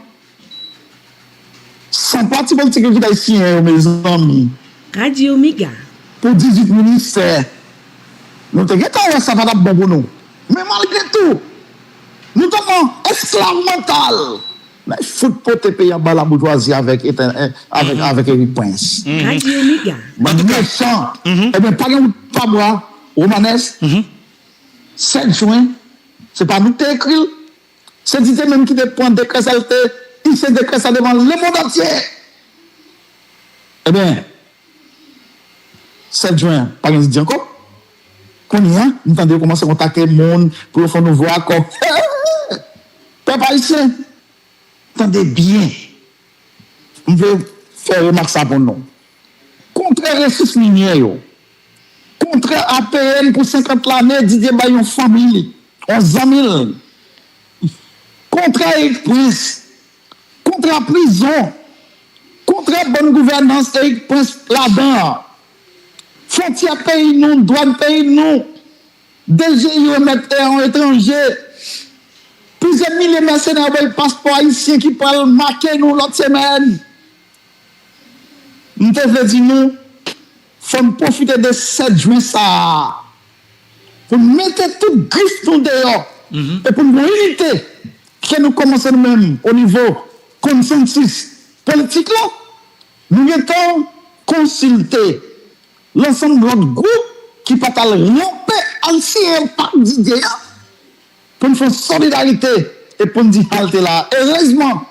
S1: San pati politik yo kitay siyen yo mezanmi. Radio mega.
S2: Pou 18
S1: ministè. Nou te gentan wè sa pa tap bon pou nou. Men malgre tou. Nou tèlman esklav mantal. Nèg fout pote peyi an ba la boujwazi avèk Eric Prince. Radio mega.
S2: Bann mechan.
S1: Ebyen pa gen wout pa bwa. Romanes, 7 jwen, se pa nou ki te ekri l, se Didier menm ki te pran dekrè sa l te ise dekrè sa devan lemondantye! Ebyen,
S5: 7 jwen an, pa gen Didier ankò? Kounye a, m tande yo kòmanse kontakte moun pou yo fè yon nouvo akò. Hee! Pèp ayisyen, tande byen! M vle fè remak sa pou nou. Kontrè resous minyè yo, kontrè APM pou 50 lane Didier bay yon fanmi li, yon zanmi l, kontrè Erik Prince, kontrè prizon, kontrè bòn gouvènans Erik Prince ladan an, fontyè peyi nou, dwàn peyi nou, Deziré yo mèt e yon etranje. Plizyè milye mèsenè voye paspò ayisyen ki pral make nou lòt semèn. M te vle di nou, fò n pwofite de 7 jwen sa a pou n mete tout grif nou deyò e pou n gen inite ke nou kòmanse nou menm onivo konsansis politik la. Nou gentan konsilte. Lansanm lòt gwoup ki pa t al ranpe ann siyen yon pak Didye a pou n fè yon solidarite e pou n di halte la. Erezman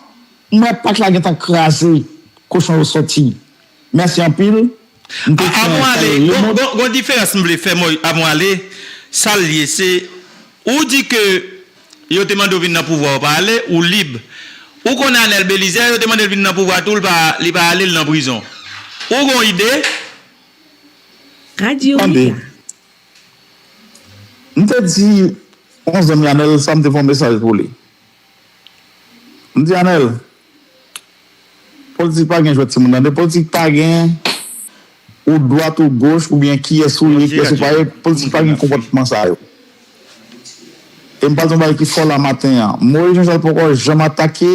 S5: m wè pak la gentan kraze, kochon yo sòti. Mèsi anpil. M te fè yon sèl
S3: remot. Gon diferans m vle fè mwen avon ale, sa l ye se ou di ke Yo te mande w vin nan pouvwa ou pa ale, ou lib. Ou konn Anel Belizaire yo te mande l vin nan pouvwa tou li pa ale li nan prizon. Ou gon ide? Radio
S2: Mega. Tande,
S5: m te di yon zanmi Anel sa m te fè yon mesaj pou li. M di Anel, Politik pa gen jwèt timoun tande politik pa gen ou dwat ou goch ou byen kiyès ou ye kiyès ou pa ye politik pa gen konpòtman sa yo e m pral di yon bagay ki fò la maten an Moïse Jean Charles poko janm atake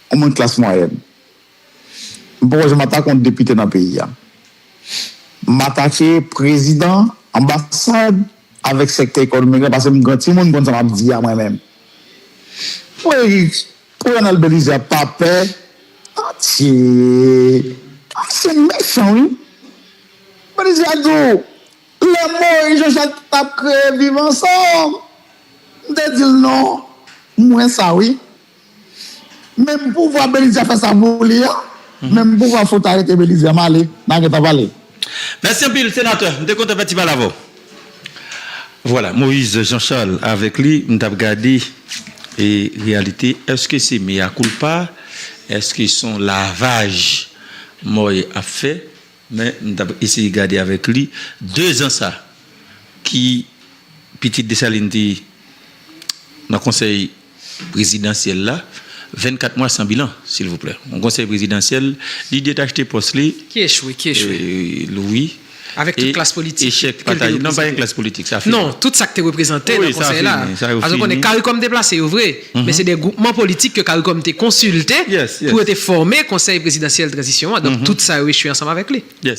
S5: yon moun klas mwayèn m poko janm atake yon depite nan peyi a m atake prezidan anbasad avèk sèktè ekonomik la pase m gran timoun m konn sa m ap di a mwen menm. Woy Ronald Belize a pa pè atye ayisyen mechan wi Belize a di w lè Moise Jean Jacques tap kreye viv ansanm m te di l non m wè sa wi menm pouvwa Belize a fè sa pou li an menm pouvwa fout arete Belize a m ale nan geta pale. Mèsi anpil
S3: senatè, m te kontan fè ti pale avè w. Vwala Moise Jean Charles avèk li m tap gade e reyalite eske se mea culpa eske son lavaj Moy ap fè men m tap eseye gade avèk li 2 zan sa ki pitit Dessalines te nan konsèy prezidansyèl la 24 mwa san bilan silvouplè yon konsèy prezidansyèl li detachte pòs li ki echwe ki echwe
S4: wi
S3: avèk tout
S4: klas politik echèk pataj non pa gen
S3: klas politik sa fini non tout sak te reprezante
S4: nan konsèy la sa fini sa yo fini paske konnen karikom te plase yo vre men se de gwoupman politik ke karikom te konsilte pou yo te fòme konsèy prezidansyèl
S3: tranzisyon
S4: an donk tout sa yo echwe ansanm avèk li.